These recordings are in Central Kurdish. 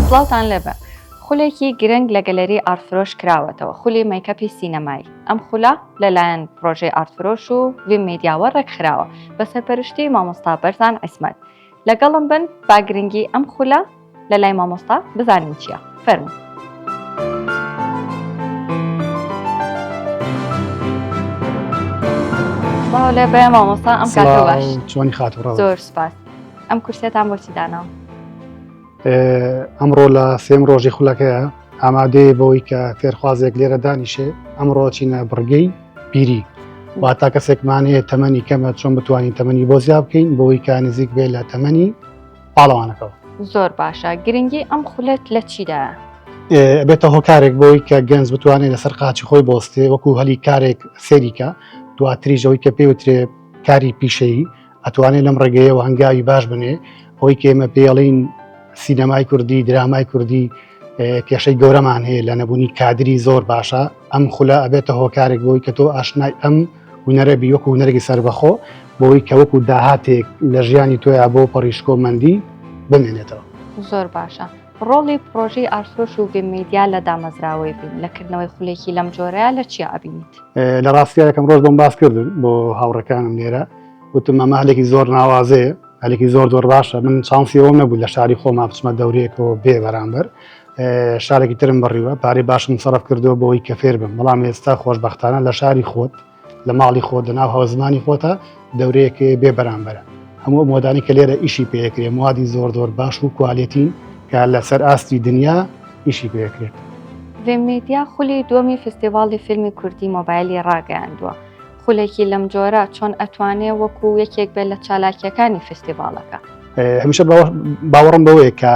سڵاوتان لێبێ خولێکی گرنگ لە گەلەری ئارفرۆش کراوەتەوە خولی مەیکەپی سینەمایی ئەم خولە لەلایەن پرۆژەی ئارتفرۆش و وی میدیاوە ڕێکخراوە بە سەرپەرشتی مامۆستا بەرزان عیسمەت لەگەڵم بن با گرنگی ئەم خولە لە لای مامۆستا بزانین چییە فەرمو لە بە مامۆستا ئەم چۆنی خات زۆر سپاس ئەم کورسێتان بۆچی داناوە ئەمڕۆ لە سێم ڕۆژی خولەکەیە ئامادەیە بەوەی کە فێرخوازێک لێرە دانیشێ ئەمڕۆ چینە بڕگەی پیری واتا کەسێکمانەیە تەمەنی کەمە چۆن بتوانین تەمەنی بۆ زیاب بکەین بۆی کا نزیک بێ لە تەمەنی پاڵەوانەکەەوە زۆر باشە گرنگی ئەم خولت لە چیدا بێتە هۆکارێک بۆی کە گەنج بتوانێت لەسەر قاچی خۆی بۆستێ وەکو هەلی کارێک سێریکە دواتریشەوەی کە پێوترێ کاری پیشەیی ئەتوانێت لەم ڕێگەیەوە هەنگاوی باش بنێ ئەوەی کێمە پێڵین سینەمای کوردی درامای کوردی کێشەی گەورەمان هەیە لە نەبوونی کادری زۆر باشە ئەم خولە ئەبێتە هۆکارێک بۆی کە تۆ ئاشنای ئەم هوەرە بیوەکو هوەرەی سربەخۆ بۆی کەوەکو داهاتێک لە ژیانی تۆیا بۆ پەڕیشکۆمەندی بمێنێتەوە زۆر باشە ڕۆڵی پرۆژی ئارسۆش و بمەیدیا لە دامەزراوەی بین لەکردنەوەی خولێکی لەم جۆرەیە لە چی ئابینیت لە ڕاستیەکەم ڕۆژ بۆم باس کردن بۆ هاوڕەکانم لێرە وتممە مالێکی زۆر ناوازەیە هەلێکی زۆر زۆر باشە من چانسی ئەوم نەبوو لە شاری خۆما بچمە دەورەیەکەوە بێ بەرامبەر شارێکی ترم بڕیوە پارەی باشم سەرف کردو بۆی کە فێر بم بەڵام ئێستا خۆشببختانە لە شاری خۆت لە ماڵی خۆت لە ناو هەوزمانی خۆتە دەورەیەکی بێ بەرامبەرە هەموو مۆدانی کە لێرە ئیشی پێکرێ موادی زۆر زۆر باش و کوالێتین کە لەسەر ئاستی دنیا ئیشی پێکرێت. ڤێممیدیا خولی دووەمی فستیڤاڵی فیلمی کوردی مۆبایلی ڕاگەیاندووە. خولێکی لەم جۆرە چۆن ئەتوانێ وەکو یەکێک بێت لە چالاکیەکانی فستیڤالەکە؟ هەمیشە باوەڕم بەوەیە کە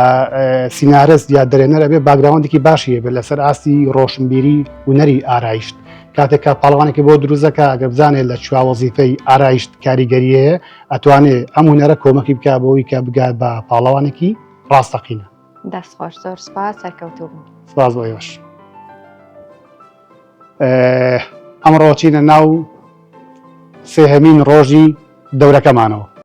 سینارست یا دەرێنەر ئەبێ باگراوندێکی باشی بێت لەسەر ئاستی ڕۆشنبیری ونەری ئارایشت کاتێکا پاڵوانێکی بۆ دروزەکە ئەگەر بزانێت لە چوا وەزیفەی ئارایشت کاریگەریە ئەتوانێت ئەم هوەرە کۆمەکی بک بۆی کە بگات بە پاڵەوانێکی ڕاستەقینە دەستخۆش زۆر سپاس سەرکەوتوو سپاس بۆ یۆش. ئەمڕۆ چینە ناو سێهەمین ڕۆژی دەورەکەمانەوە.